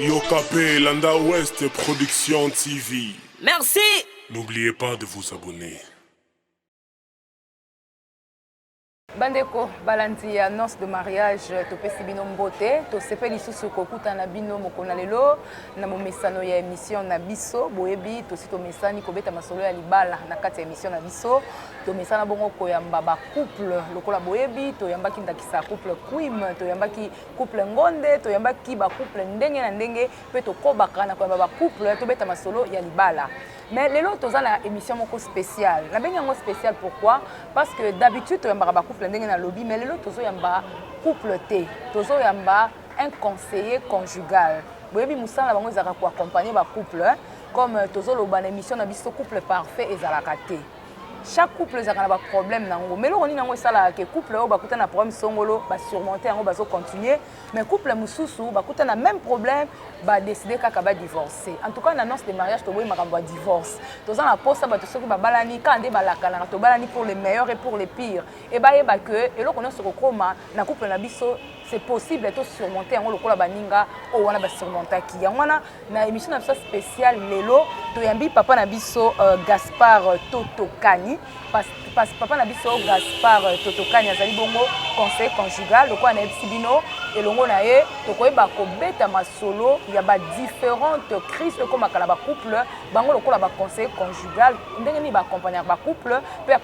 Yokape Landa Ouest Production TV. Merci. N'oubliez pas de vous abonner. bandeko balandi ya annonce de mariage topesi bino mbote tosepe lisusu kokutana bino mokolo na lelo na momesano ya émission na biso boyebi tosi tomesani kobeta masolo ya libala na kati ya émission na biso tomesana bongo koyamba couple lokola boyebi toyambaki ndakisa couple quim toyambaki couple ngonde toyambaki bacouple ndenge na ndenge mpe tokobaka na koyamba bacouple tobeta masolo ya libala mais lelo toza na émission moko spéciale nabengi yango spéciale pourquoi parce que d'habitude toyambaka bacouple ndenge nalobi mais lelo tozoyamba couple te tozoyamba un conseiller conjugal boyebi mosala na bango ezalaka koaccompagne bacouple comme tozoloba na émission na biso couple parfait ezalaka te chaque couple ezalaka na baproblème na yango mais eloko nini yango esalaka ke couple oyo bakuta na problème songolo basurmonte yango bazocontinue mais couple mosusu bakuta na même problème badeside kaka badivorce en tout cas na nonce de mariage toboyi makambo ya divorce toza na mposa bato soki babalani kaka nde balakanaka tobalani pour le meilleur et pour le pire et bayeba que eloko nyonso ekokoma na couple na biso c'est possible to surmonter yango lokola baninga oyo wana basurmontaki yango wana na émission na biso spéciale lelo toyambi papa na biso euh, gaspard totokani pas, pas, papa na biso gaspard totokani azali bongo conseil conjugal lokola nayebisi bino elongo na ye tokoyeba kobeta masolo ya badifférente crise oyo ekomaka na bacouple bango lokola baconseil conjugal ndenge nini baacompagnaka bacouple mpe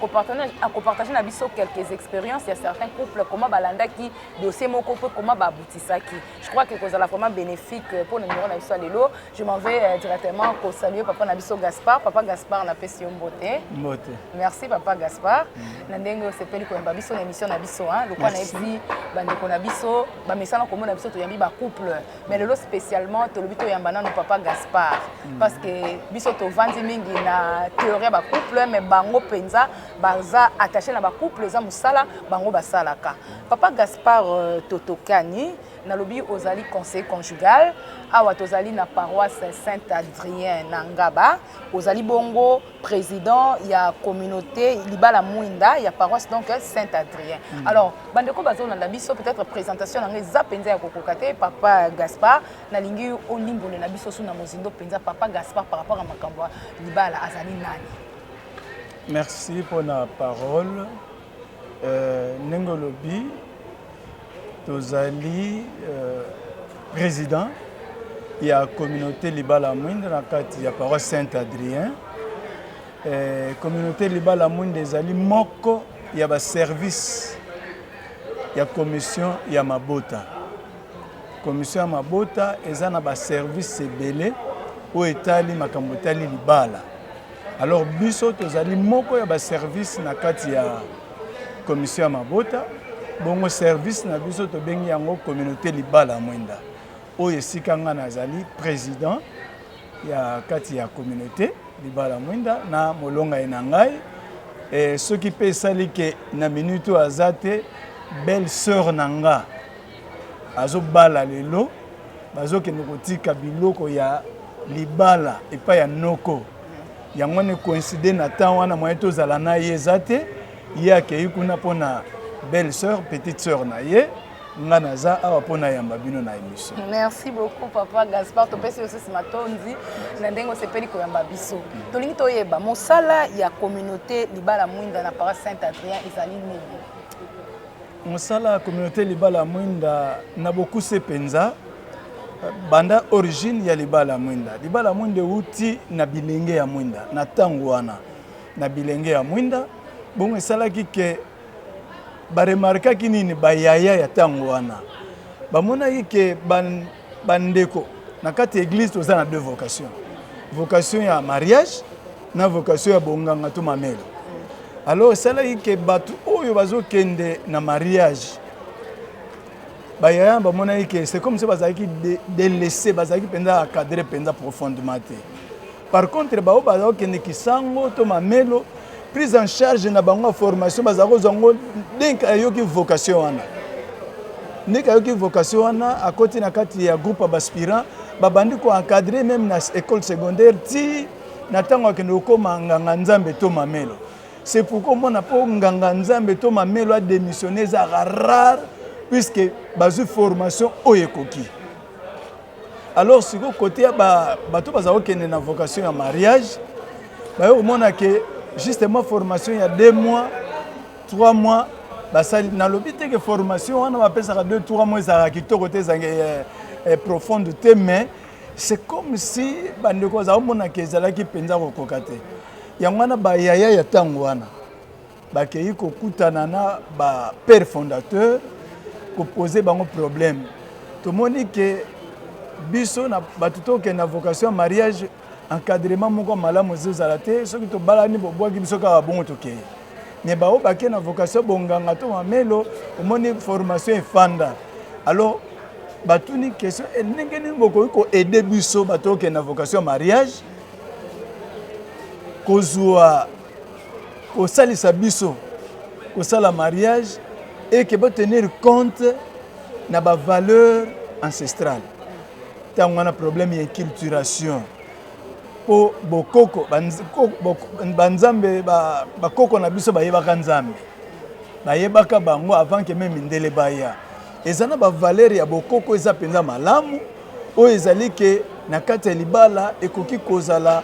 akopartage na biso quelques expériences ya certains couple comment balandaki dossier moko mpe comment baabutisaki je crois que kozala vraiment bénéfique euh, mpo na numero na biso ya lelo je m'en vais euh, directement kosalue papa na biso gaspard papa gaspard napesi yo mbote mbote merci papa gaspard mm. na ndenge osepeli koyamba biso na émission na biso lokwa nayebisi bandeko na biso bamesana komona biso toyambi bacouple mais lelo spécialement tolobi toyamba nano papa gaspard mm. parce que biso tovandi mingi na théorie ya bacouple mais bango mpenza baza attaché na bacouple eza mosala bango basalaka papa gaspard euh, totokani nalobi ozali conseil conjugal awa tozali na paroisse saint adrien na ngaba ozali bongo président ya communauté libala mwinda ya paroisse donc saint adrien mm. alors bandeko bazolanda biso peut-être présentation na ngai eza mpenza ya kokoka te papa gaspard nalingi olimbolela biso su na mozindo mpenza papa gaspard par rapport ya makambo ya libala azali nani merci mpona parole Euh, ndenge olobi tozali euh, président ya communauté libala mwinda na kati ya paroisse saint adrien euh, communauté libala mwinda ezali moko ya baservice ya commission ya mabota commission ya mabota eza na baservice ebele oyo etali makambo etali libala Alors biso tozali moko ya ba service na kati ya commission ya mabota bongo service na biso tobengi yango communauté libala mwenda oyo esika ngai nazali président ya kati ya communauté libala mwinda na molonga ye na ngai e, soki mpe esali ke na minute oyo aza te belle sœur na nga azobala lelo bazokende kotika biloko ya libala epai ya noko yango wana coïncide na temps wana moye tozala na ye eza te ye akei kuna mpo na belle sœur petite sœur na ye nga naza awa mpo nayamba bino na émission merci beaucoup papa gaspard topesi osusu matondi na ndenge osepeli koyamba biso tolingi toyeba mosala ya communauté libala mwinda na paris saint adrien ezali nini Mosala ya communaute libala ya mwinda na bokuse mpenza banda origine ya libala ya mwinda. Libala ya mwinda euti na bilenge ya mwinda na ntango wana na bilenge ya mwinda bongo esalaki ke baremarkaki nini bayaya ya ntango wana bamonaki ke Bandeko, na kati ya eglise toza na deux vocation. Vocation ya mariage na vocation ya bonganga to mamelo. Alors esalaki ke bato oyo bazokende na mariage bayaya bamonaki ke c'est comme se bazalaki delaisse, bazalaki mpenza acadre mpenza profondement te. Par contre baoyo baza kokende kisango to mamelo prise en charge na bango ya formation bazala kozwa yango ndenge ayoki vocation wana ndenge ayoki vocation wana akoti na kati ya groupe ya baspirant babandi koencadre meme na école secondaire ti na ntango akende kokóma nganga nzambe to mamelo c'est pourquoi omona mpo nganga nzambe to mamelo ademissionne ezalaka rare puisque bazwi formation oyo ekoki alors sikoyo kote ya bato bazala kokende na vocation ya mariage baye komona ke justement formation ya deux mois trois mois basali nalobi te ke formation wana bapesaka deux trois mois ezalaka kitoko te ezange eh, eh, profonde te mais c'est comme si bandeko bazala komonaka ezalaki mpenza kokoka te yango wana bayaya ya ntango wana Bakeyi kokutana na ba père fondateur ko poser bango problème tomoni que biso na bato tokende na vocation ya mariage encadrement moko ya malamu ezozala te soki tobalani bobwaki biso kaka bongo tokei me baoyo bake na vocation bonganga to mamelo omoni formation efanda alors batuni question eh, ndenge nini bokoki koaide biso bato okende na vocation ya mariage kozwa kosalisa biso kosala mariage et que ba tenir compte na ba valeur ancestrale ntango wana problème ya inculturation mpo bokoko banzambe bakoko na biso bayebaka nzambe bayebaka bango avant ke meme mindele baya eza na bavalere ya bokoko eza mpenza malamu oyo ezali ke na kati ya libala ekoki kozala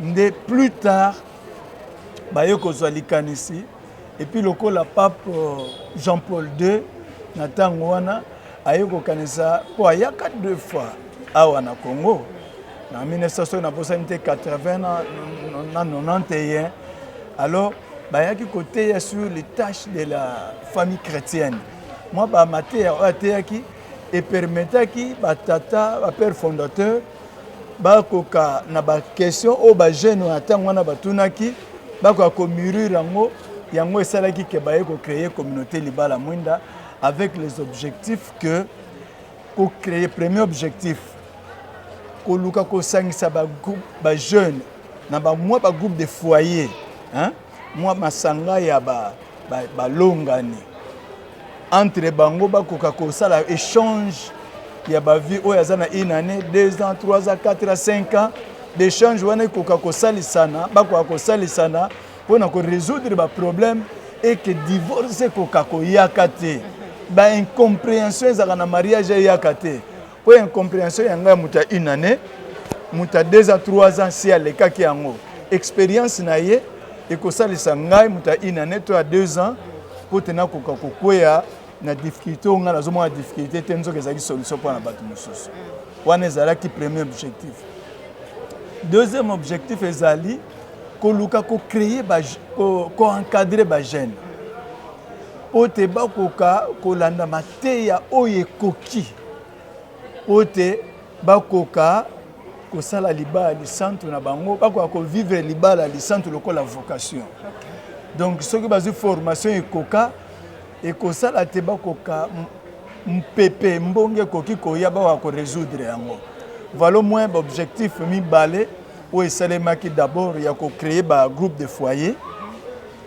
Nde plus tard baye kozwa likanisi epuis lokola pape euh, Jean Paul II na ntango wana aye kokanisa mpo ayaka deux fois awa na Congo na 1900 soki naposani te 80 na 91 alors bayaki koteya sur les tâches de la famille chrétienne mwa bamateya oyo ateyaki epermetaki batata bapère fondateur bakoka na ba question oyo ba jeune ya ntango wana batunaki bakoka komurir yango yango esalaki ke baye kocreye communauté libala mwinda avec les objectifs que kocreye premier objectif koluka kosangisa bagroupe bajeune na bamwa bagroupe de foyer hein? mwa masanga ya ba, ba balongani entre bango bakoka kosala échange ya bavie oyo aza na une année deux ans trois ans quatre ans cinq ans d'échange wana ekoka kosalisana bakoka kosalisana mpo na korésoudre baproblème eke divorce ekoka koyaka te baincomprehension ezalaka na mariage eyaka te Mpo ya incomprehension ya ngai ya moto ya une année, moto ya deux ans, trois ans, si alekaki yango, experience na ye ekosalisa ngai moto ya une année to ya deux ans mpo te nakoka kokweya na difficulté oyo ngai nazomona difficulté te nzoka ezalaki solution mpo na bato mosusu wana ezalaki premier objectif deuxième objectif ezali koluka kocreye koencadre bajeune mpo te bakoka kolanda mateya oyo ekoki mpo ete bakoka kosala libala lisantu na bango bakoka kovivre libala lisantu lokola vocation donc soki bazwi formation ekoka ekosala te bakoka mpepe mbonge ekoki koya bakoka koresoudre yango valo moins baobjectif mibale oyo esalemaki d'abord ya kocreye bagroupe de foyer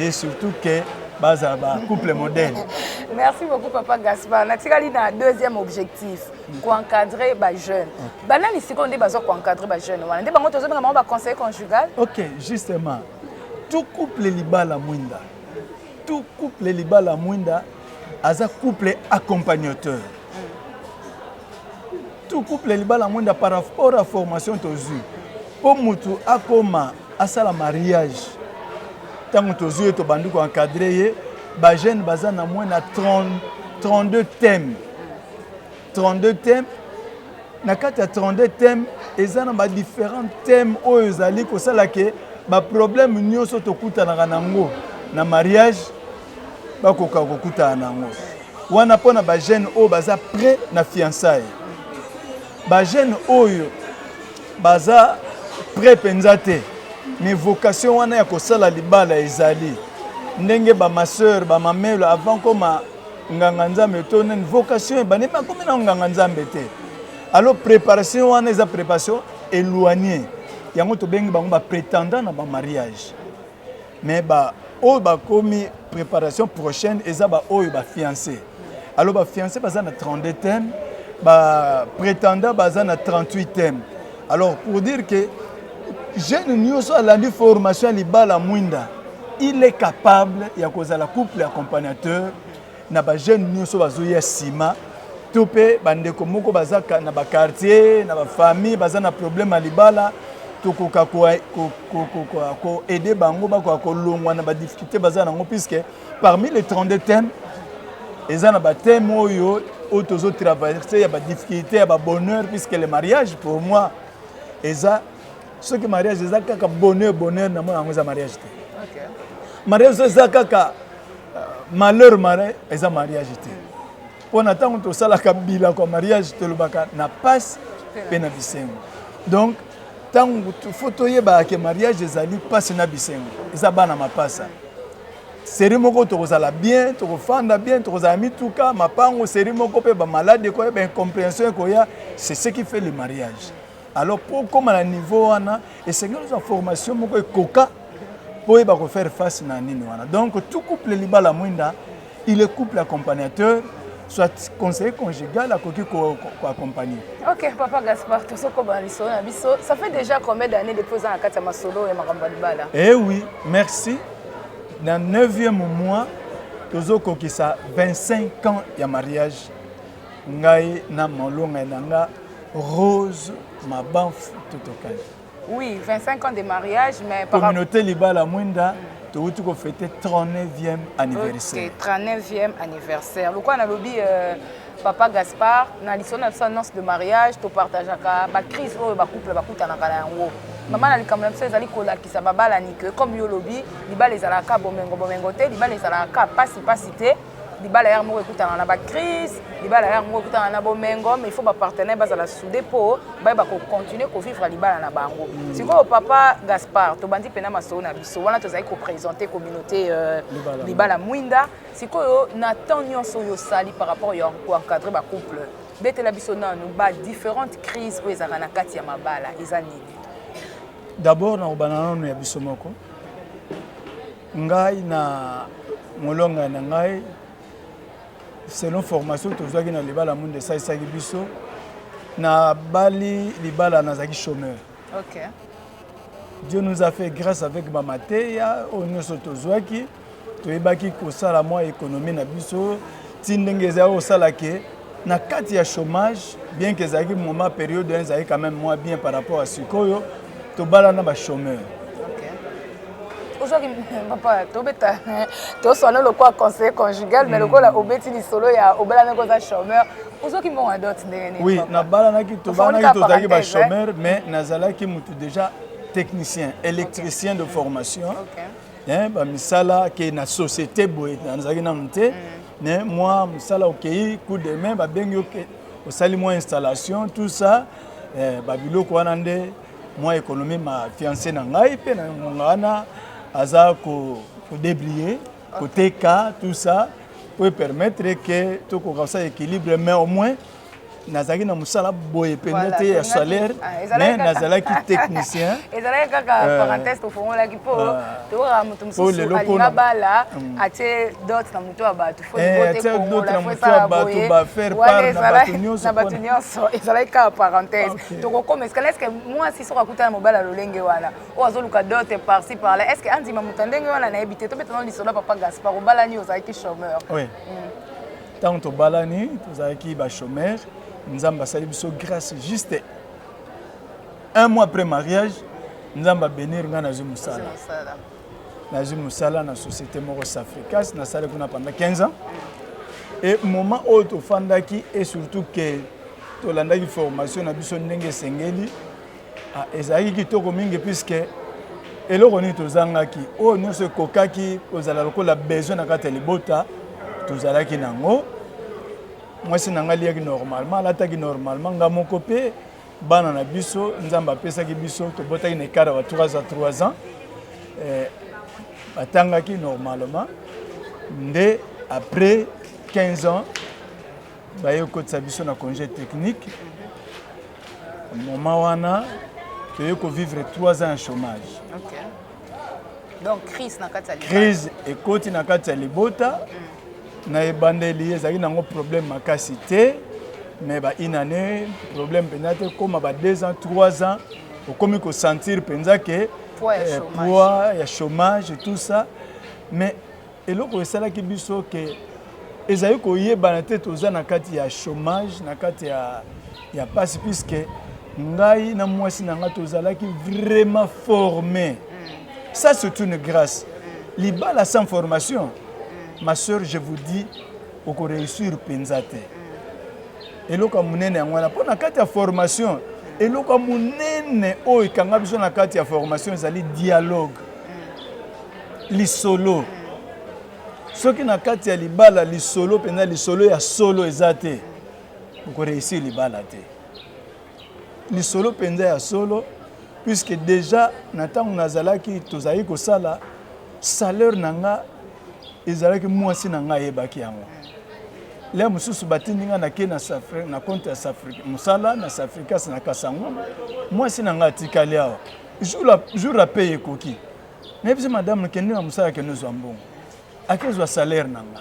et surtout que baza ba couple modèle merci beaucoup papa gaspar natikali na deuxième objectif koencadre bajeune banani sikoyo nde baza koencadre bajeune wana nde bango tozobenga bango baconseiller conjugal ok justement tout couple libala mwinda tout couple libala mwinda aza couple accompagnateur tout couple libala mwenda par rapport à formation tozwi mpo mutu akoma asala mariage ntango tozwi ye tobandi koencadre ye bajeune baza na moins na 32 thème 32 thème na kati ya 32 thème eza na badifférent thème oyo ezali kosala ke baproblème nyonso tokutanaka na yango na mariage bakoka kokutana na yango wana mpo na bajeune oyo baza près na fiançaille bajeune oyo baza près mpenza te mais vocation wana ya kosala libala ezali ndenge bamaseur bamamelo avant koma nganga nzambe to nini vocation ebandi bakomi na nganga nzambe te alors préparation wana eza préparation éloignée yango tobengi bango baprétendant na bamariage mais ba oyo bakomi préparation prochaine eza ba oyo ba fiancé alors ba fiancé baza na 32 thème ba prétendant baza na 38 thème alors pour dire que jeune nyonso alandi formation ya libala mwinda il est capable ya kozala couple accompagnateur na ba jeune nioso bazoya sima to mpe bandeko moko baza na bakartier na bafamille baza na problème ya libala tokoka koaide bango bakoka kolongwa na badifficulté baza nango puisque parmi les 32 thèmes eza na bathème oyo oyo tozotraverse ya badifficulté ya babonheur puisque le mariage pour moi eza soki mariage eza kaka bonheur bonheur na mona yango eza mariage te mariage eza kaka malheur mare eza mariage te mpo na ntango tosalaka bilako ya mariage tolobaka na pasi mpe na bisengo donc ntango fo toyebaka ke mariage ezali mpasi na bisengo eza bana mapasa seri moko tokozala bien tokofanda bien tokozala mituka mapango seri moko mpe bamaladi ekoya baincomprehension ekoya c'est ce qui fait le mariage Alors mpo okoma na niveau wana esengeli ozwa formation moko ekoka mpo oyeba ko faire face na nini wana. Donc tout couple libala mwinda il est couple accompagnateur soit conseiller conjugal akoki koaccompagne ok papa gaspard tozokobana lisolo na biso ça fait déjà combien d'année depuis oza na kati ya masolo ya makambo ya libala eh oui merci na 9e mois tozokokisa 25 ans ya mariage ngai na molongai na nga rose mabanfu totokani oui 25 ans de mariage mais communauté libala mwinda towuti kofete 39e anniversaire okay, 39e anniversaire lokola nalobi euh, papa gaspard na lisolo na biso annonce de mariage topartageaka bacrise oyo bacouple bakutanaka na yango mama na likambo na biso ezali kolakisa babalani ke comme yo olobi libala ezalaka bomengo bomengo te libala ezalaka mpasi mpasi te libala yaka moko ekutana na bacrise libala yaka moko ekutana na bomengo mais il faut bapartenaire bazala soude mpo bayeba kocontinue kovivre libala na bango mm. sikoyo papa gaspard tobandi mpena masolo na biso wana tozali kopresente communauté euh, libala mwinda sikoyo na temps nyonso oyo osali par rapport ya koencadre bacouple betela biso nanu badifférente crise oyo ezalaka na kati ya mabala eza nini d'abord nakobana nano ya biso moko Ngai na molonga na ngai selon formation tozwaki na libala mundu esalisaki biso na bali libala nazalaki chômeur okay. dieu nous a fait grâce avec bamateya oyo nyonso tozwaki toyebaki kosala mwa économie na biso ti ndenge ezalaki kosala ke na kati ya chômage bien ke ezalaki moment période ezalaki quand même mwa bien par rapport ya sikoyo tobalana ba chômeur ozwaki papa tobeta toswana lokola conseil conjugal mais hmm. lokola obeti lisolo ya obalanaki oza chômeur ozwaki mbongo ya dot ndenge nini oui nabalanaki tobalanaki tozalaki ba chômeur mais nazalaki motu déjà technicien électricien de formation eh, bamisala ke na société boye nazalaki nanu te mais hmm. mwa mosala okei coup de main babengi osali mwa installation tout ça eh, babiloko wana nde mwa ekonomi ma fiance na ngai mpe na ngonga wana aza kodebrie koteka tout ça po epermettre ke tokoka kosala équilibre mais au moins nazalaki na mosala boye mpenza te ya salaire ah, mais nazalaki technicien ezalaki kaka euh, parenthèse tofongolaki mpo euh, tokokaka moto mosusu alinga bala atie dot na moto ya bato bato nyonso ezalaki kaka parenthèse tokokoma escale eske mwasi soki akutana mobali ya lolenge wana oyo azoluka dote parci par là eske andima moto ya ndenge wana nayebi te tobetana lisolo ya papa gaspar obalani ozalaki chômeur ntango mm. tobalani tozalaki bachômeur nzambe asali biso grâce juste un mois après mariage nzambe abenir ngai nazwi mosala nazwi mosala na société moko safricas nasali kuna pendant 15 ans e moment oyo tofandaki e surtout ke tolandaki formation na biso ndenge esengeli ah, ezalaki kitoko mingi puiske eloko nini tozangaki oyo nyonso ekokaki kozala lokola besoin na kati ya libota tozalaki nango mwasi na ngai aliyaki normalement alataki normalement ngai moko mpe Bana na biso Nzambe apesaki biso tobotaki na ekada ba 3 à 3 ans eh, batangaki normalement nde après 15 ans baye kokotisa biso na congé technique moment wana toye kovivre 3 ans ya chômage okay. Donc crise na kati ya libota. Crise ekoti na kati ya libota. Mm. Na ebandeli ezalaki nango problème makasi te mais ba une année problème mpenza te koma ba deux ans trois ans okomi kosentir mpenza ke poids ya chômage tout ça mais eloko esalaki biso ke ezali koyebana te toza na kati ya chômage na kati ya, ya pasi puiske ngai na mwasi na ngai tozalaki vraiment forme mm. Ça c'est une grâce. Libala sans formation, ma soeur, je vous dis, oko réussir penza te. Eloko ya munene yango wana mpo na kati ya formation, eloko ya munene oyo ekanga biso na kati ya formation ezali dialogue, lisolo. Soki na kati ya libala lisolo mpenza lisolo ya solo eza te, oko réussir libala te. Lisolo mpenza ya solo puisque deja na ntango nazalaki tozalaki kosala salaire na nga ezalaki mwasi na nga ayebaki yango le mosusu batindi nga nake na, na compte ya mosala na safricas na kasango mwasi na nga atikali awa jour apeye ekoki nayebisi madame kende na mosala kende ozwa mbongo akezwa salaire na nga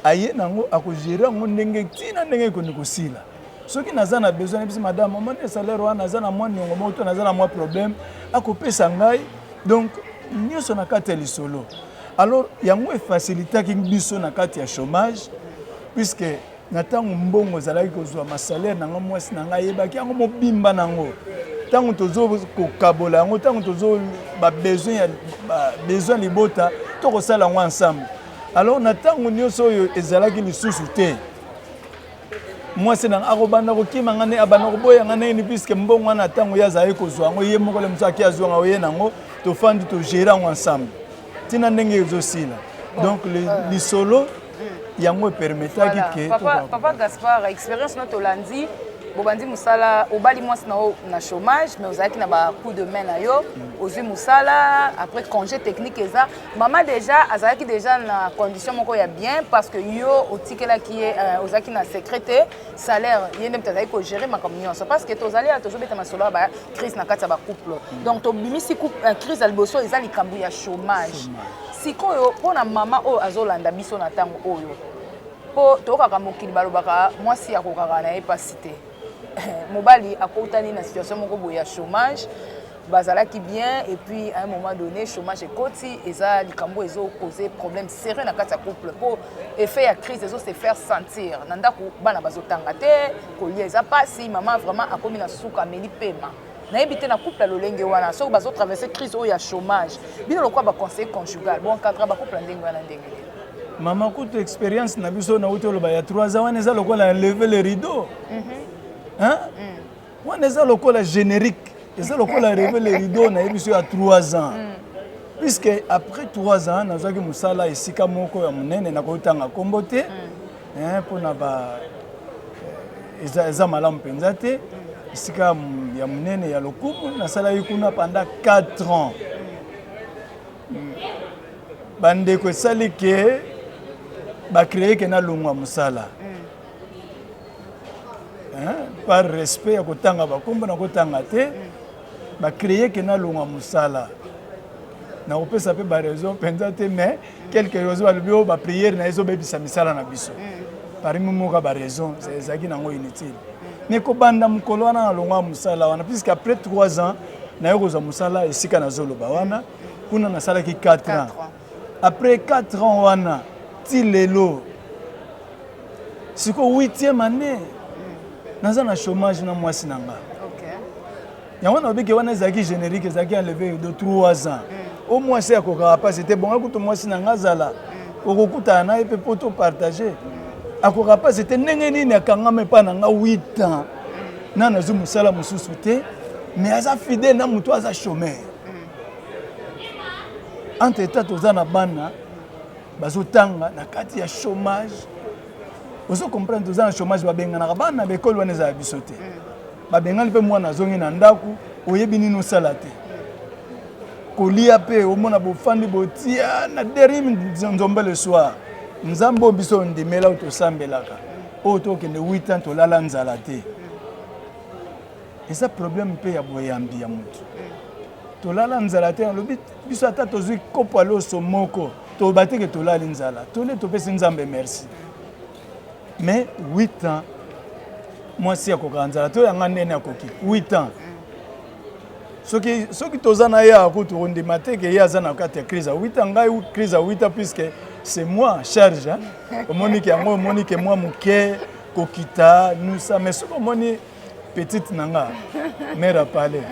aye nango akogere yango ndenge ti na ndenge ekondi kosila soki naza na besoin nayebisi madame omoni salaire wana naza na mwa niongo moko to naza na mwa problème akopesa ngai donc nyonso na kati ya lisolo alors yango efacilitaki biso na kati ya chômage puisque Na ntango mbongo ezalaki kozwama, salere na ngai, mwasi na ngai ayebaki yango mobimba na yango. Ntango tozokokabola yango, ntango tozo babesoin ya besoin libota, tokosala yango ensemble. Alors na ntango nyonso oyo ezalaki lisusu te mwasi na akobanda kokima ngai abanda koboya ngai nayini puiske mbongo wana ntango ye azalaki kozwa yango ye moko le mosusu ake azwa yango ye nango tofandi togere yango ensemble ntina ndenge ezosila donc lisolo yango epermetaki voilà. ke papa, papa gaspard expérience no tolandi bobandi mosala obali mwasi na yo na chômage mais ozalaki na bacoup de main na yo mm. ozwi mosala après congé technique eza mama déjà azalaki déjà na condition moko ya bien parce que yo otikelaki ye euh, ozalaki na secret te salaire ye nde moto azalaki kogere makambo nyonso parce que tozali ya tozobeta masolo ya bacrise na kati ya bacouple mm. donc tobimisi euh, crise ya liboso eza likambo ya chômage Sikoyo mpo na mama oyo azolanda biso na ntango oyo, mpo toyokaka mokili balobaka mwasi akokaka na ye mpasi te mobali akutani na situation moko boye ya chômage bazalaki bien et puis à un moment donné chômage ekoti eza likambo ezo cause problème sérieux na kati ya couple mpo effet ya crise ezo se faire sentir na ndako bana bazotanga te kolia eza mpasi mama vraiment akomi na suka ameli pema nayebi te na couple ya lolenge wana soki bazo traverse crise oyo ya chômage bino lokola baconseiller conjugal boencadra bacouple ya ndenge wana ndenge nini mama kutu expérience na biso nauti oloba ya 3 ans wana eza lokola ya leve le rideau mhm. mm. wana eza lokola générique eza lokola leve le rideau nayebi biso ya 3 ans mm. puisque après 3 ans nazwaki mosala esika moko ya monene nakoki tanga nkombo te mm. eh, mpo na ba eh, eza, eza malamu mpenza te esika ya monene ya lokumu nasalaki kuna pendant 4 ans bandeko esali ke bacreye ke nalongwa mosala par respect ya kotanga bakombo na kotanga te bacreye ke nalongwa mosala nakopesa mpe baraison mpenza te mais quelque ozo balobi oyo bapriere na ye ezobebisa misala na biso mm. parmi moka baraison ezalaki nango inutile mm. mais kobanda mokolo wana na longwa mosala wana puisque après 3 ans naye kozwa mosala esika nazoloba wana mm. kuna nasalaki 4 ans après 4 ans wana ti lelo sikoyo 8e année naza na chômage na mwasi na ngai yango nalobi ke wana ezalaki générique ezalaki enleve de 3 ans o mwasi akokaka mpasi te bonga kutu mwasi na nga azala okokutana na ye mpe mpo topartage akokaka mpasi te ndenge nini akangama epai na nga 8 ans na nazwi mosala mosusu te mais aza fidèle na moto aza chômeur entre temps toza na bana bazotanga na kati ya chômage ozo comprendre toza na chômage babenganaka bana na baekole wana ezala biso te Babengani mpe mwana azongi na ndako, oyebi nini osala te. Kolia mpe omona bofandi botia na derim nzombe le soir. Nzambe oyo biso ondimela oyo tosambelaka oyo tokende 8 ans tolala nzala te eza problème mpe ya boyambi ya motu tolala nzala te nalobi biso ata tozwi kopo ya loso moko toyeba teke tolali nzala tole topesi nzambe merci mais 8 ans mwasi akokaka nzala to yanga ndene akoki 8 ans soki soki toza na ye akutu kondima te ke ye aza na kati ya crise awita ngai crise awita puisque c'est moi charge omoni ke yango omoni ke mwa moke kokita nusa mais soki omoni petite na nga mère apale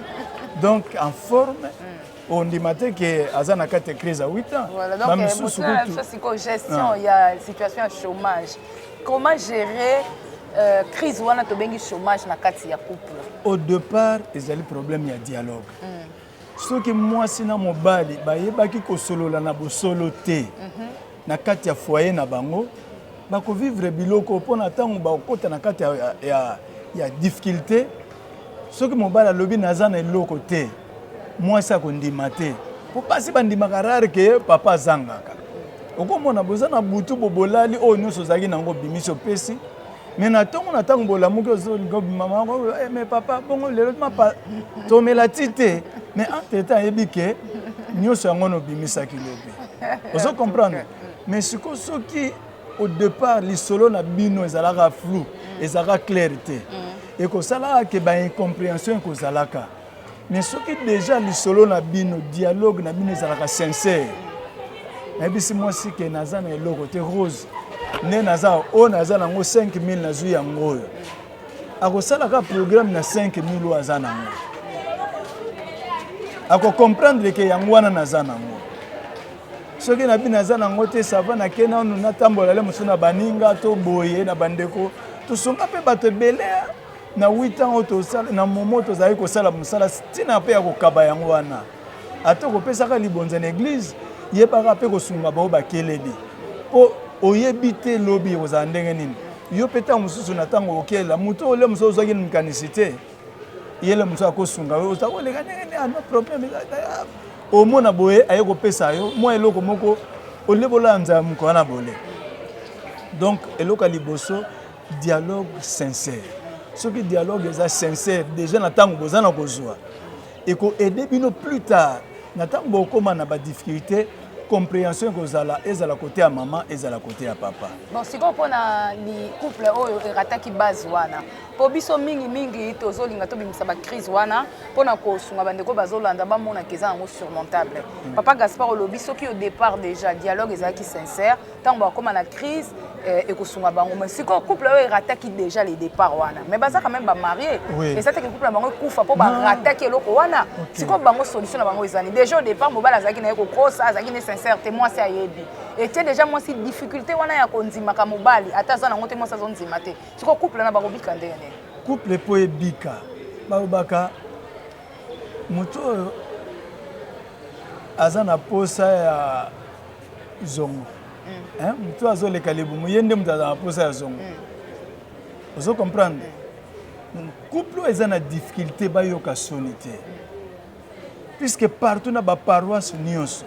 donc en forme mm. ondima te ke aza na kati ya crise ya 8 ans voilà, donc, bamisusu euh, kutu sikoyo gestion ah. ya situation ya chômage comment gérer euh, crise wana tobengi chômage na kati ya couple au départ ezali problème ya dialogue mm. soki mwasi na mobali bayebaki kosolola na bosolo te mm -hmm. na kati ya foyer na bango bakovivre biloko mpo na ntango bakokota na kati ya, ya, ya difficulté soki mobali alobi naza na eloko te Mwasi akondima te. Po basi bandimaka rare que papa azangaka. Okomona boza na butu bo bolali oyo nyonso ozalaki na yango obimisi opesi. Mais na tongo na tango bolamuki ozolinga obima mama ko eh, mais papa bongo lelo mapa tomela ti te. Mais entre temps ayebi que nyonso yango nobimisaki lobi. Ozo comprendre? Mais siko soki au départ lisolo na bino ezalaka flou, ezalaka clair te. Mm. Ekosalaka que ba incomprehension ekozalaka. Mais soki deja lisolo na bino dialogue na bino ezalaka sincère nayebisi mwasi ke naza na eloko te rose nde naza oyo naza nango 5000 nazwi yango oyo akosalaka programme na 5000 oyo aza nango akokomprendre ke yango wana naza nango soki na bino aza nango te sava nake nanu natambola le mosusu na baninga to boye na bandeko tosunga mpe bato ebele Na huit ans oyo tosala na momo tozalaki kosala mosala ntina mpe ya kokaba yango wana ata kopesaka libonza na eglize yebaka mpe kosunga bao bakeleli mpo oyebi te lobi ekozala ndenge nini yo mpe ntango mosusu na ntango okela moto ole mosusu ozwaki na makanisi te yele mosusu akosunga yo oza koleka ndenge nini ano ah, problème omona boye aye kopesa yo mwa eloko moko olebola nzala moko wana bole donc eloko ya liboso dialogue sincère soki dialogue eza sincère déjà na ntango boza na kozwa ekoaide bino plus tard na ntango bokoma na badifficulté comprehension ekozala ezala kote ya mama ezala kote ya papa bon sikoyo mpo na couple oyo erataki base wana mpo biso mingimingi tozolinga tobimisa bacrise wana mpo na kosunga bandeko bazolanda bamonaka eza yango surmontable hmm. papa gaspard olobi soki au départ déjà dialogue ezalaki sincère ntango bakoma na crise eh, ekosunga bango mais sikoyo couple oyo erataki déjà le départ wana mais baza quand même bamarie oui. eza teke couple na bango ekufa mpo barataki eloko wana okay. sikoyo bango solution na bango ezali déjà au départ mobali azalaki na ye kokosa azalaki ne sincère te mwasi ayebi etie déjà mwasi difficulté wana ya kondimaka mobali ata aza nango te mwasi azondima te sikoyo couple wana bakobika ndenge nini couple mpo ebika balobaka moto oyo aza na posa ya zongo mm. motu azoleka libumu ye nde moto azala mposa ya zongo mm. ozo comprendre mm. couple oyo eza na difficulté bayoka soni te puisque partout na baparoisse nyonso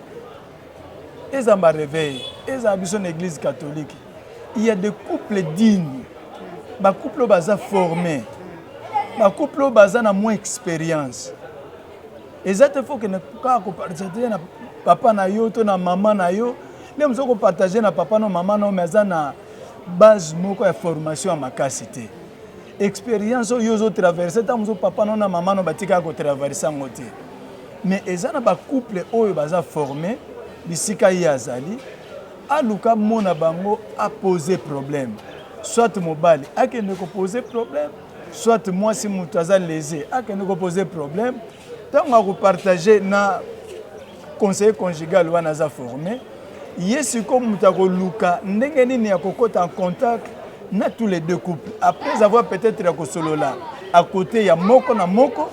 eza bareveil eza biso na église catholique il y a des couples dignes bacouple oyo baza forme bacouple oyo baza na moins expérience eza te faut kende kaka kopartage na papa na yo to na mama na yo nde mozo kopartage na papa na mama na yo me aza na base moko ya formation ya makasi te expérience oyo ozotraverse ntango mozo papa no na mama no batikaka kotraverse yango te mais eza na bacouple oyo baza forme bisika ye azali aluka mona bango apose problème soit mobali akende kopose problème soit mwasi moto aza lese akende kopose problème ntango akopartage na conseiller conjugal wana aza forme ye sikoyo moto akoluka ndenge nini akokota en contact na tous les deux couples après avoir peut-être ya kosolola à côté ya moko na moko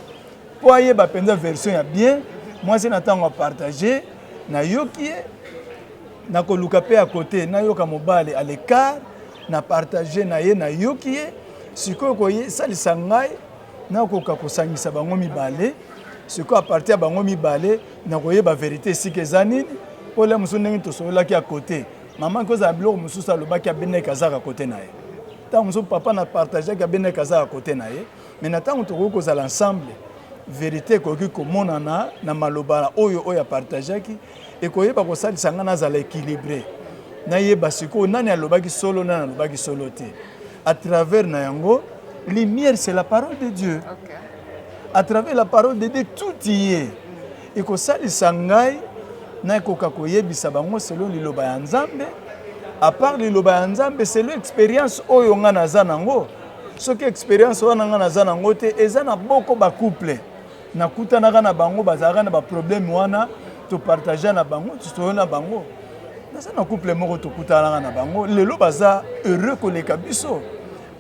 mpo ayeba mpenza version ya bien mwasi na ntango apartage nayoki ye nakoluka mpe ya kote nayoka mobali à l'écart na partage na ye nayoki ye sikoyo kosalisa ngai nakoka kosangisa bango mibale sikoyo apartir ya bango mibale nakoyeba verité esika eza nini mpo la mosusu ndenge tosololaki ya kote mama kozala biloko mosusu alobaki abeneki azaka kote na ye ntango mosusu papa na partageaki abeneki azaka kote na ye mai na ntango tokoki kozala ensemble verité ekoki komonana na maloba oyo oyo apartageaki ekoyeba kosalisa ngai nazala équilibré nayeba sikoyo nani alobaki solo nani alobaki solo te à travers na yango lumière c'est la parole de dieu okay. à travers la parole de dieu tout y est ekosalisa ngai nakoka koyebisa bango selon liloba ya nzambe apart liloba ya nzambe selon expérience oyo ngai naza nango soki expérience wana ngai naza nango te eza na boko bacouple nakutanaka na bango bazalaka na baproblème wana topartagea na bango toyo na bango naza na couple moko tokutanaka na bango lelo baza heureux koleka biso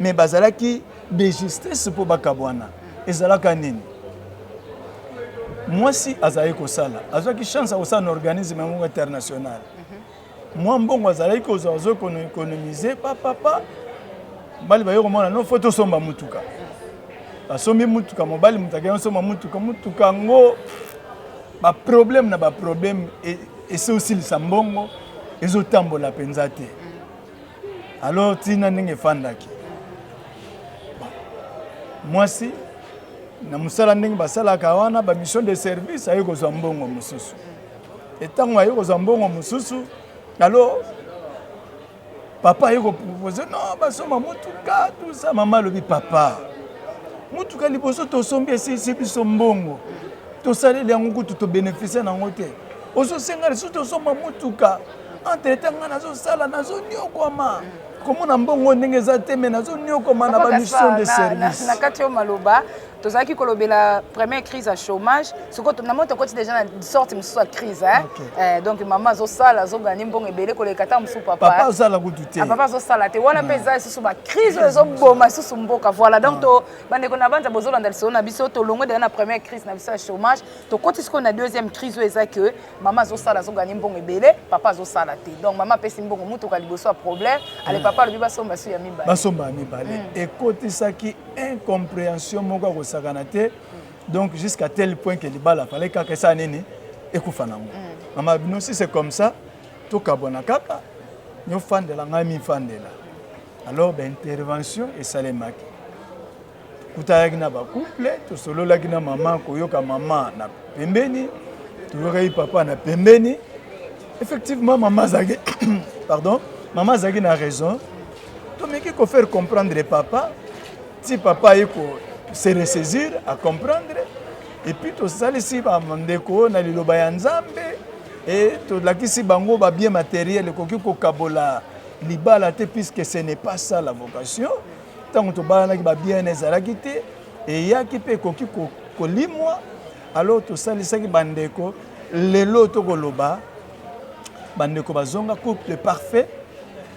mais bazalaki de justesse mpo bakabwana ezalaka nini mwasi azalaki kosala azwaki chance ya kosala na organisme yango international mwa mbongo azalaki kozwa azo economise papapa mobali baye komona no fo tosomba motuka basombi motuka mobali moto akei osomba motuka motuka yango baproblème na baproblème e, esi osilisa mbongo ezotambola mpenza te alors ntina ndenge efandaki mwasi na mosala ndenge basalaka wana bamission de service aye kozwa mbongo mosusu Et tango aye kozwa mbongo mosusu, alors papa aye kopropose non basomba motuka tout ça, mama alobi papa motuka liboso tosombi esilisi biso mbongo tosaleli yango kutu tobenefisie na yango te ozosenga lisusu tosomba motuka entre temps ngai nazosala nazoniokwama komona mbongo ndenge eza te me nazoniokwama na bamisio de service na kati yo maloba tozalaki kolobela première crise ya chômage sikoyo na moi tokoti déjà na sorte mosusu ya crise hein? okay. eh, donc mama azosala azoganye mbongo ebele koleka ta mosusu papa azala kutu te ah, papa azosala te wana mpe eza lisusu bacrise oyo ezoboma lisusu mboka voilà donc to bandeko na banza bozolanda lisolo na biso tolongwe deja na première crise na biso ya chômage tokoti sikoyo na deuxième crise oyo eza que mama azosala azoganye mbongo ebele papa azosala te donc mama apesi mbongo motuka liboso ya problème ale papa alobi basomba su ya mibale basomba ya mibale ekotisaki incomprehension moko ya kosakana te donc jusqu'à tel point que libala fallait kaka esala nini ekufa nango mm. mama bino si c'est comme ça tokabwana kaka nyofandela ngai mifandela alors baintervention esalemaki kutanaki na bacouple tosololaki na mama koyoka mama na pembeni toyokaki papa na pembeni effectivement mama azalaki pardon mama azalaki na raison tomeki ko faire comprendre papa ti papa aye ko se ressaisir à comprendre et puis tosalisi bandeko na liloba ya nzambe e tolakisi bango babien matériel ekoki kokabola libala te puisque ce n'est pas ça la vocation ntango tobalanaki babiene ezalaki te eyaki mpe ekoki kolimwa alors tosalisaki bandeko lelo tokoloba bandeko bazonga couple parfait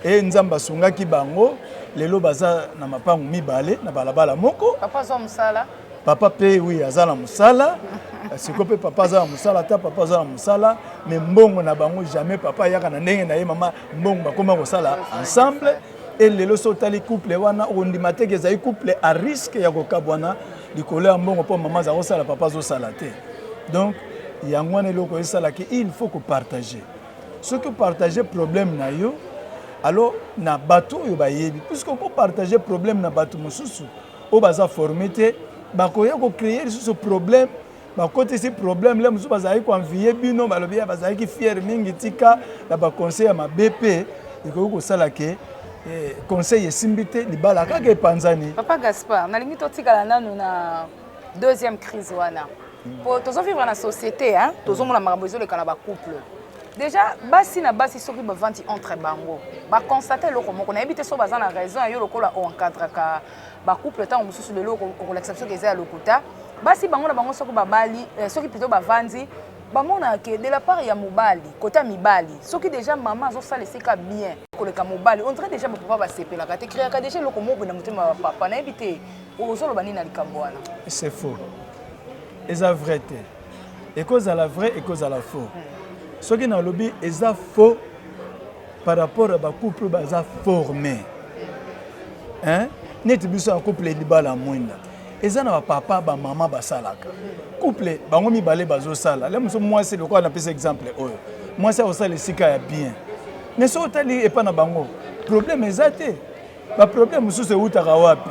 e nzambe asungaki bango lelo baza na mapango mibale na balabala moko papa azwa mosala papa mpe wi aza na mosala siko mpe papa aza na mosala ata papa aza na mosala me mbongo na bango jamais papa ayaka na ndenge na ye mama mbongo bakoma kosala ensemble e lelo so otali couple wana ondima teke ezali couple a risque ya kokabwana likolo ya mbongo mpo mama aza kosala papa azosala te donc yango wana eloko esalaki il faut kopartage soki opartage problème na yo alors na bato oyo bayebi puisque okopartage problème na bato mosusu oyo baza forme te bakoya kocreye lisusu problème bakotisi problème le mosusu bazalaki koenviye bino balobi ya bazalaki fiere mingi tika na baconseil ya mabe mpe ekoki kosala ke eh, conseil esimbi te libala kaka epanzani papa gaspard nalingi totikala nanu na deuxième crise wana mpo tozovivre na société hein? tozomona makambo ezoleka na bacouple déjà basi na basi soki bavandi entre bango baconstate eloko moko nayebi te soki baza na raison ya yo lokola oencadraka oh, ba couple ntango mosusu lelo okolakisa biso ke eza ya lokuta basi bango na bango soki babali eh, soki plutôt bavandi bamonaka ke de la part ya mobali kota mibali soki déjà mama azosala esika bien koleka mobali on dirait déjà bapapa basepelaka te créaka déjà eloko moko na motema ya bapapa nayebi te ozoloba nini na likambo wana c'est faux eza vrai te ekozala vrai ekozala faux hmm. soki nalobi eza faux par rapport ya ba couple oyo baza forme hein? neti biso ya couple libala mwinda eza na bapapa bamama basalaka couple bango mibale bazosala le mosusu mwasi lokola napesa exemple oyo mwasi akosala esika ya bien me soki otali epai na bango problème eza te baproblème mosusu ewutaka wapi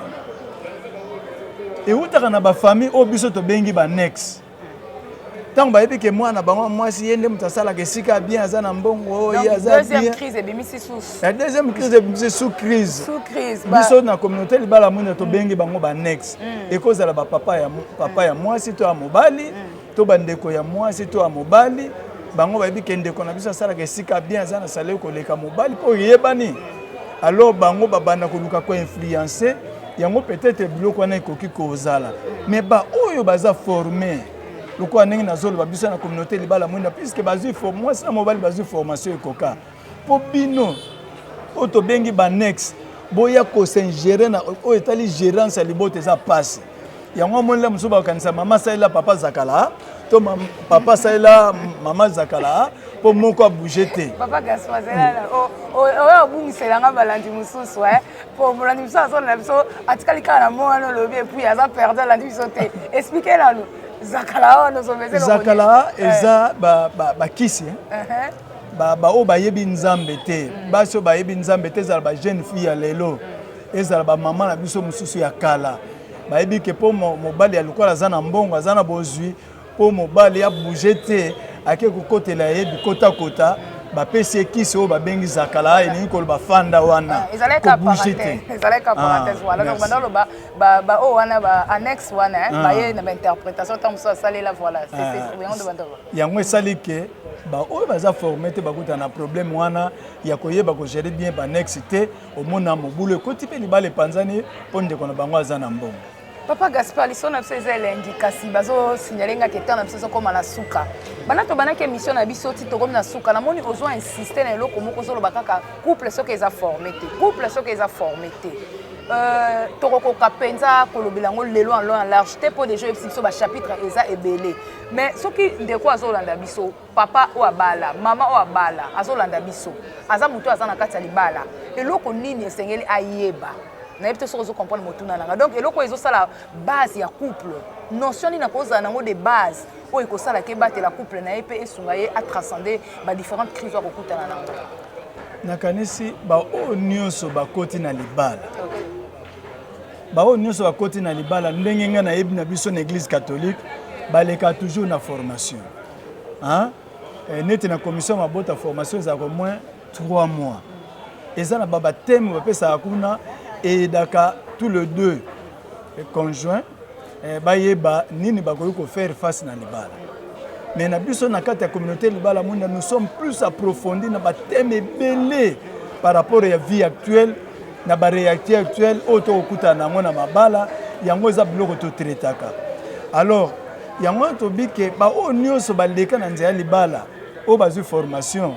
ewutaka na bafamille oyo biso tobengi banexe ntango bayebi ke mwana bango mwasi ye nde moto asalaka esika bien aza na mbongo ye aza biendeuxième crise ebimisi sous crise biso na communauté libala mwina tobengi bango banex mm. ekozala bapapa ya papa ya mwasi to ya mobali mm. to bandeko ya mwasi to ya mobali bango bayebi ke ndeko na biso asalaka esika bien aza na salele koleka mobali mpo eyebani alors bango babanda koluka koinfluence yango peut-être biloko wana ekoki kozala mais baoyo baza forme lokola ndenge nazoloba biso na communauté libala mwinda puisque bazwi mwasi na mobali bazwi formation ekoka mpo bino oyo tobengi banexe boya kosingere na oyo etali gerance ya libota eza mpasi yango omoni la mosusu bakanisa mama salela papa zakala to papa salela mama zakala mpo moko abouge te papa gaspa zelala oyo obungisela nga balandi mosusu e mpo molandi mosusu azolanda biso atikali kaka na moko wana olobi epuis aza perde alandi biso te explike nanu zakala wana ozomezezakala eh. eza bakisi eh. uh-huh. baoyo bayebi nzambe te mm. basi oyo bayebi nzambe te ezala bajeune fille ya lelo mm. ezala bamama na biso mosusu ya kala bayebi ke mpo mobali ya lokola aza na mbongo aza na bozwi mpo mobali ya bouge te ake kokotela ye bikotakota bapesi ye kisi oyo babengi zakala elingi koloba fanda wana eh, kobouge te ezalaki ka parenthèse ah, wana donc banda oloba baoyo wana ba annexe wana eh, ah. baye na bainterprétation ntango mosusu asalela voilà ah. yango esali ke baoyo baza forme te bakutana na problème wana ya koyeba kogere bien baannexe te omona mobulu ekoti mpe libala epanzani mpo ndeko na bango aza na mbongo papa gaspar liso na biso eza elengi kasi bazosignale nga ketan na biso ezokoma na suka banda tobandaki émission na biso ti tokomi na suka namoni ozwa insiste na eloko moko ozoloba kaka couple soki eza forme te couple soki eza forme te Euh, tokokoka mpenza kolobela yango lelo en long en large te mpo deja oyebisi biso bachapitre eza ebele mais soki ndeko azolanda biso Papa oyo abala, mama oyo abala, azolanda biso. Aza moto aza na kati ya libala. Eloko nini esengeli ayeba? nayebi te soki ozo comprendre motuna nanga donc eloko oyo ezosala base ya couple notion nini akozala nango de base oyo ekosala ke ebatela couple na ye mpe esunga ye atranscende badifférente crise oyo akokutana nango nakanisi baoyo nyonso bakoti na libala okay. baoyo nyonso bakoti na libala ndenge ngai nayebi na biso na église catholique baleka toujours na formation hein eh, neti na commission mabota formation ezalaka moins 3 mois eza na babateme bapesaka kuna eyedaka tout le deux conjoint eh, bayeba nini bakoki kofaire face na libala mais na biso na kati ya communauté libala mwinda nous sommes plus approfondi na bateme ebele par rapport ya vie actuelle na barealité actuelle oyo tokokutana na yango na mabala yango eza biloko totraitaka alors Yango wana tobi ke baoyo nyonso baleka na nzela ya libala oyo bazwi formation,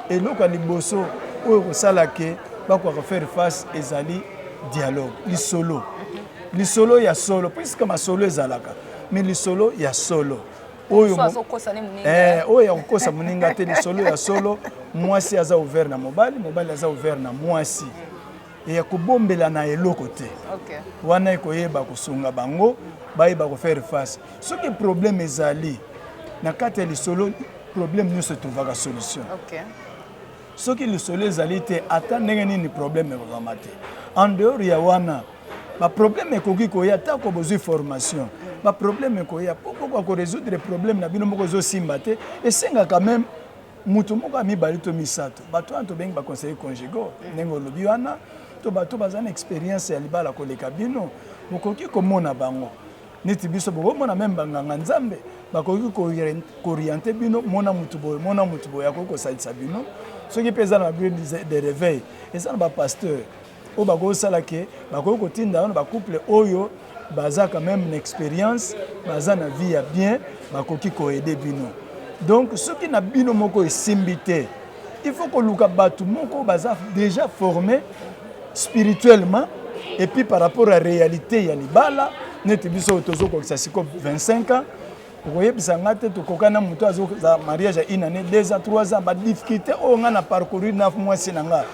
eloko ya liboso oyo kosala ke bakoka kofaire face ezali dialogue, lisolo lisolo ya solo, puiske masolo ezalaka me lisolo ya solo oyo eh, oyo ya kokosa moninga te lisolo ya solo mwasi aza ouvert na mobali mobali aza ouvert na mwasi ya kobombela na eloko te okay. wana ekoyeba kosunga bango bayeba kofaire face soki problème ezali na kati ya lisolo problème nyonso etrouvaka solution okay. soki lisolo ezali te ata ndenge nini problème ekozwama te en dehors ya wana baproblème ekoki koya atako bozwi formation baproblème ekoya mpo kokoka koresoudre problème na bino moko ezosimba te esengaka meme Moto moko ya mibale to misato, bato wana tobengi ba conseillers conjugaux, mm. ndenge olobi wana, to bato baza na experience ya libala koleka bino, bokoki komona bango neti biso bokomona meme banganga nzambe bakoki kooriente bino mona motu boye mona motu boye akoki kosalisa bino soki mpe eza na bino de réveil eza na bapasteur oyo bakoki sala ke bakoki kotinda wana ba couple oyo baza quand même na expérience baza na vie ya bien bakoki koede bino donc soki na bino moko esimbi te il faut koluka bato moko baza déjà formé spirituellement et puis par rapport à réalité ya libala neti biso oyo tozokokisa sikoyo 25 ans okoyebisa nga te tokokani na moto azoza mariage ya une année deux ans trois ans badifficulté oyo ngai na parcourir na mwasi na ngai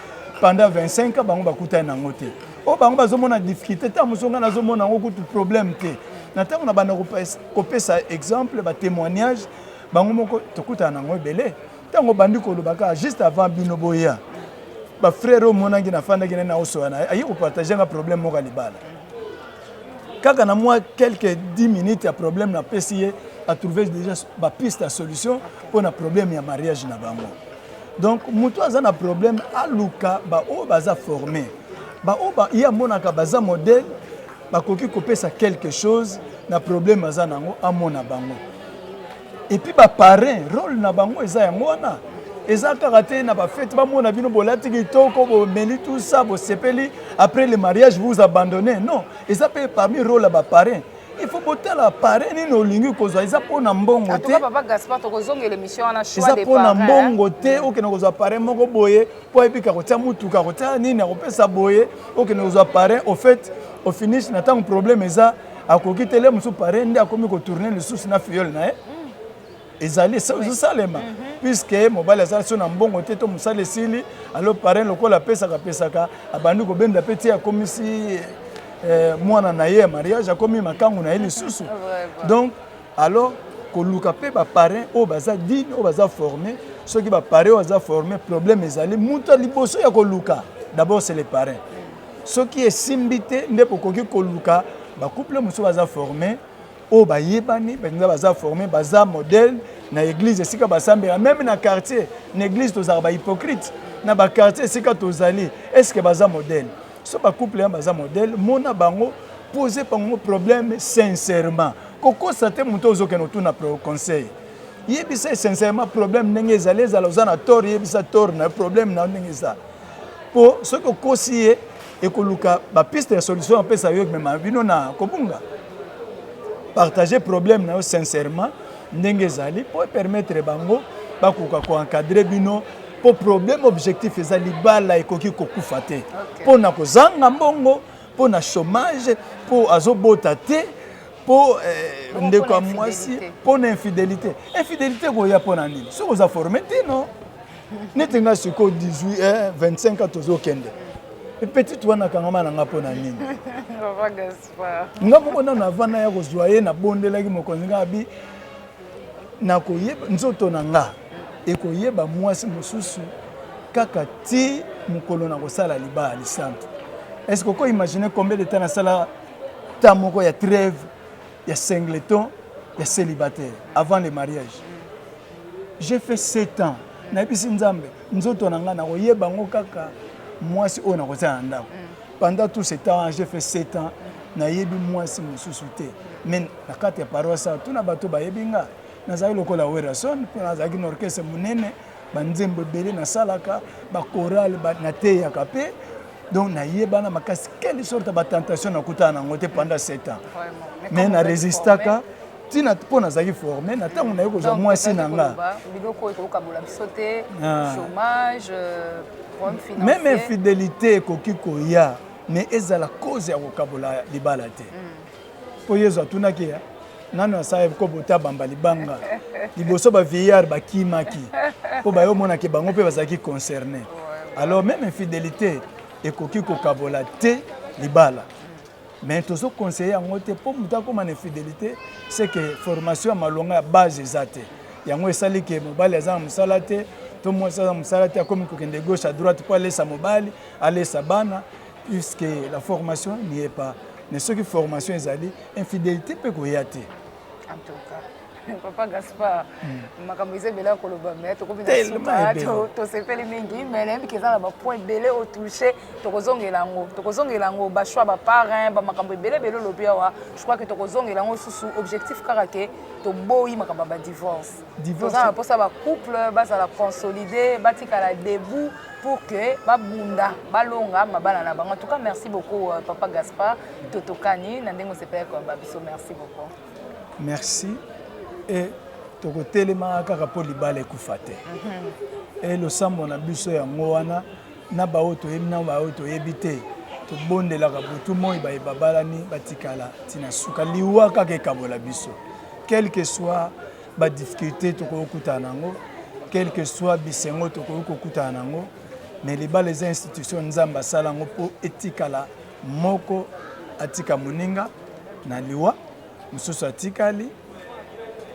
pendant 25 ans bango bakutani nango te oyo bango bazomona difficulté ntango mosusu ngai nazomona yango kutu problème te na ntango na banda kopesa exemple batémoignage bango moko tokutana na yango ebele ntango obandi koloba kaka juste avant bino boya bafrère oyo omonaki nafandaki naye naosoya na ye aye kopartage nga problème moko ya libala Kaka na mwa quelques 10 minutes ya problème na pesi ye a trouver déjà ba piste ya solution mpo na problème ya mariage na bango. Donc moto aza na problème aluka ba oyo baza former ba oyo ba ye amonaka baza modèle bakoki kopesa quelque chose na problème aza nango amona bango. et puis ba parrain role na bango eza yango wana eza kaka te na bafete bamona bino bolati kitoko bomeli tout ça bosepeli après le mariage vous abandonne non eza mpe parmi role ya baparrain il faut botala pare nini olingi kozwa eza mpo na mbongo te eza mpo na mbongo te okende kozwa pare moko boye mpo ayebika kotia motuka kotia nini akopesa boye okende kozwa pare au fait ofinish na ntango problème eza akoki te le mosusu pare nde akomi kotourne lisusu na fiole na ye eh? ezali ezosalema mhm. puiske mobali azali so na mbongo te to mosala esili alo parin lokola apesaka apesaka abandi kobenda mpe ti akomisi eh, mwana na ye ya mariage akomi makangu na ye lisusu donc Alors koluka mpe ba parrains oyo baza digne oyo baza forme soki ba parrains oyo baza forme problème ezali moto ya liboso ya koluka d'abord c'est le parrain soki esimbi te nde bokoki koluka bacouple mosusu baza forme oyo bayebani mpenza baza forme baza modèle na église esika basambela meme na quartier na église tozalaka bahypocrite na baquartier esika tozali estce baza modèle so ba couple ya baza modèle mona bango pose bango problème sincèrement kokosa te moto ozokende otuna conseil yebisa sincèrement problème ndenge ezali ezala oza na tort yebisa tort na problème na ndenge eza mpo soki okosi ye ekoluka bapiste ya solution apesa yo emema bino na kobunga partage problème na yo sincèrement ndenge ezali mpo epermettre bango bakoka koencadre bino mpo problème objectif eza libala ekoki kokufa te mpo na kozanga mbongo mpo na chômage mpo azobota te mpo eh, ndeko ya mwasi mpo na infidelité infidelité koya mpo na nini soki oza forme te no neti ngai sikoyo 18 eh, 25 ans tozokende petite wana akangama na ngai mpo na nini nga moko nano avanda ya kozwa ye nabondelaki mokonzi nga abi nakoyeba nzoto na nga ekoyeba mwasi mosusu kaka ti mokolo nakosala libaya lisantu est ce que oko imagine combien de temps nasala temps moko ya trêve ya singleton ya célibataire avant le mariage j'ai fait sept ans nayebisi nzambe nzoto na ngai nakoyeba yango kaka mwasi oyo nakozala na ndako mm. Pendant tout ce temps, j'ai fait 7 ans, nayebi mwasi mosusu te. Mais na kati ya paroisse awa, tuna bato bayebi nga. Nazali lokola Werrason, mpo nazalaki na orchestre monene, banzembo ebele nasalaka, bakorale ba, nateyaka mpe donc nayebana makasi quelle sorte ya batentation nakutana nango te pendant 7 ans mais na resistaka ntina mpo nazalaki forme na ntango naye kozwa mwasi na nga biloko oyo tokokabola biso te ah. chômage euh, meme infidélité ekoki koya mais ezala cause ya kokabola libala te hmm. mpo yesu atunaki ya nano asala kopo te abamba libanga liboso bavieillard bakimaki mpo baye omonaki bango mpe bazalaki concerné alors meme infidélité ekoki kokabola te libala mais tozo conseiller yango te mpo moto akoma na infidelité c'est que formation ya malonga ya base eza te yango esali ke mobali aza na mosala te to mwasi aza na mosala te akomi kokende gauche à droite mpo alesa mobali alesa bana puisque la formation n'y est pas mais soki formation ezali infidélité mpe koya te papa gaspar makambo eza ebele ya koloba me tokomi na suka tosepeli mingi me nayebi ke eza na bapoint ebele otouche tokozongela yango tokozongela yango bachoix baparin bamakambo ebele ebele olobi awa je crois ke tokozongela yango susu objectif kaka ke toboyi makambo ya badivorce toza na mposa bacouple bazala consolide batikala debout pour que babunda balonga mabala na bango en tout cas merci beaucoup euh, papa gaspard totokani na ndenge osepelaki koyamba biso merci beaucoup merci et tokotelemaka kaka mpo libala ekufa te e losambo na biso yango wana na baoyo toyebi na baoyo toyebi te tobondelaka butu moi baye babalani batikala ntina suka liwa kaka ekabola biso quelque soit badifficulté tokoki kokutana na yango quelque soit bisengo tokoki kokutana na yango mais libala eza institution nzambe asala yango mpo etikala Moko atika moninga na liwa, mosusu atikali,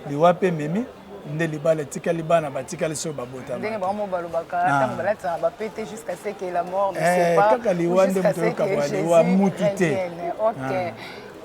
liwa mpe ememi nde libala etikali bana batikali soki babotandenge bango mo balobaka ah. ntango balataka bapete jusqu'à ce que la mort ne eh, pas kaka liwa nde moto yokabwa liwa mutu te ok ah.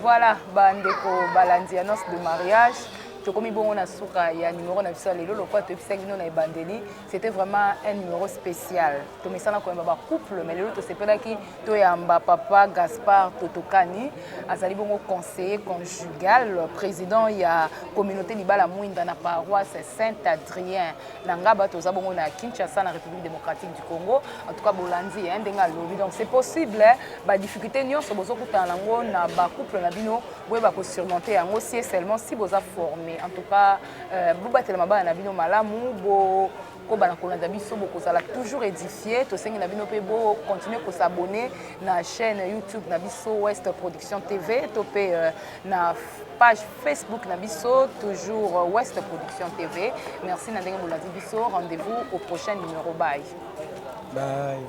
voilà bandeko balandi annonce de mariage tokomi bongo na suka ya numero na biso ya lelo lokola toyebisaki bino na ebandeli C'était vraiment un numéro spécial. Tomesana koyamba ba couple mais lelo tosepelaki toyamba papa Gaspard Totokani azali bongo conseiller conjugal président ya communauté libala mwinda na paroisse Saint-Adrien na Ngaba toza bongo na Kinshasa na République démocratique du Congo. En tout cas bolandi hein ndenge alobi. Donc c'est possible hein, ba difficultés nyonso bozokutana nango na ba couple na bino boyeba ko surmonter yango si et seulement si boza formé. En tout cas Euh, bobatela mabala na bino malamu bokoba na kolanda biso bokozala toujours édifie tosengi na bino mpe bocontinue kosabonne na chaîne youtube na biso west production tv to mpe euh, na page facebook na biso toujours euh, west production tv merci na ndenge bolandi biso rendez-vous au prochain numéro bye bye